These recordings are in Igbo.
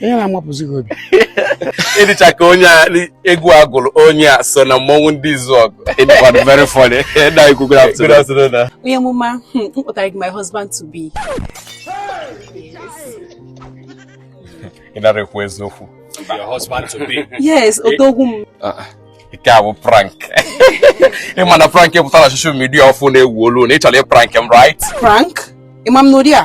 ihe na-amapụzi gị obi ị dịcha ka onye egwu a gụrụ onye asọna mmọnwụ ndị Izuọgụ ị dịkwanụ very funny na ikwu good afternoon ah. onye mụma hmm, m kpụtara gị my husband to be ị nara ekwu eziokwu your husband to be yes odogwu m ah, ah. nke a bụ prank ị ma na prank pụtara na social media ọfụụ na-ewu olu na ị chọrọ ị prank m right prank ị ma m n'ụdị a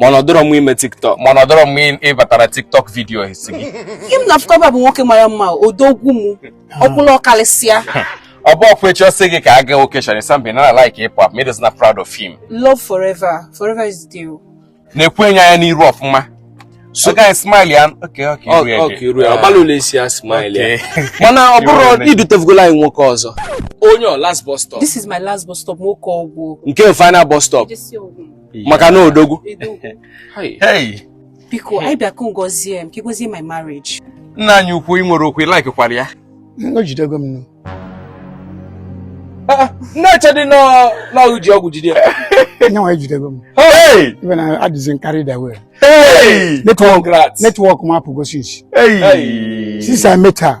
mana ọ dọrọ m ime tiktok mana ọ dọrọ m ịbatara tiktok vidiyo asị gị ihe m na-afụkọba bụ nwoke mara mma odogwu m ọkwụlụ ọkarịsịa ọ bụ ọkwa echi ọ sị gị ka a gaa okeshọn isambe na like ịpụ apụ medozi na proud of him love forever forever is the deal nekwenụ ya anya n'iru ọfụma so guy smile ya okay okay okay okay ruo ọbalụ na-esi ya smile ya mana ọ bụrụ idutevugolo anyị nwoke ọzọ onye a ọ last bus stop this is my last bus stop nwoke ọgwụ nke final bus stop maka na odogwu biko anyị bịa ka ị gozie m ka ị gozie my marriage nna anyị ukwu ị nwere okwu like kwara ya o jidego m nụ na-echedị na o ji ọgwụ jide ya nya nwa ejidego m even adịzi m carried away netwọk m apụgo since since I met her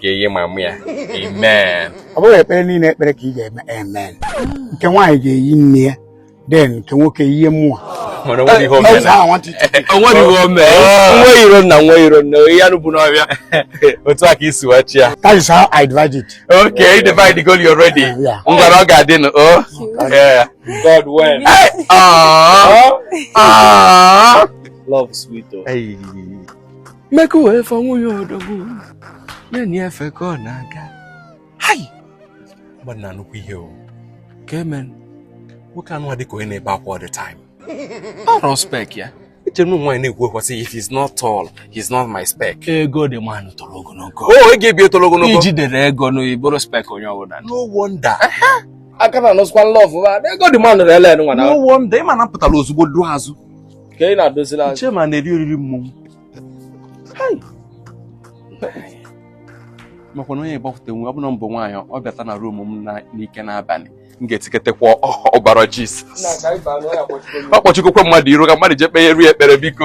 ga-eyi mama ya amen ọ bụghị ekpere niile ekpere ka ị ga-eme amen nke nwaanyị ga-eyi nne ya then nke nwoke eyie mụ o nweghị ihe o me nwe iro na nwe iro na ihe anụ bụ n'ọbịa otu a ka i si wachi ya that is how I divide it okay you divide the goal already ngwanụ ọ ga-adị nụ o oh. God when love sweet oh. make way for nwunye odogwu na-enye efe ka ọ na-aga hai mmadụ na nnukwu ihe o ka eme nwoke anụ dị ka onye na-ebe akwa all the time ọ rọ spek ya echere m nwaanyị na-ekwukwa sị if he's not tall he's not my spec ego dị man nụ toro ogologo o ego ebi toro ogologo i jide ego ị bụrụ spek onye ọbụla no wonder aka na anụsịkwa in love ego dị man nụ rele nwa na no wonder ị ma na m pụtara ozugbo duo azụ ka ị na-adozila anyị chairman na-eri oriri mmọnwụ makwa na onye gbapụta nwe ọ bụla mbụ nwaanyị ọ bịata na ruum m n'ike n'abalị m ga-etiketekwa ọbara jizọs ọ kpọchikokwa mmadụ iru ka mmadụ jee kpeere ya ekpere biko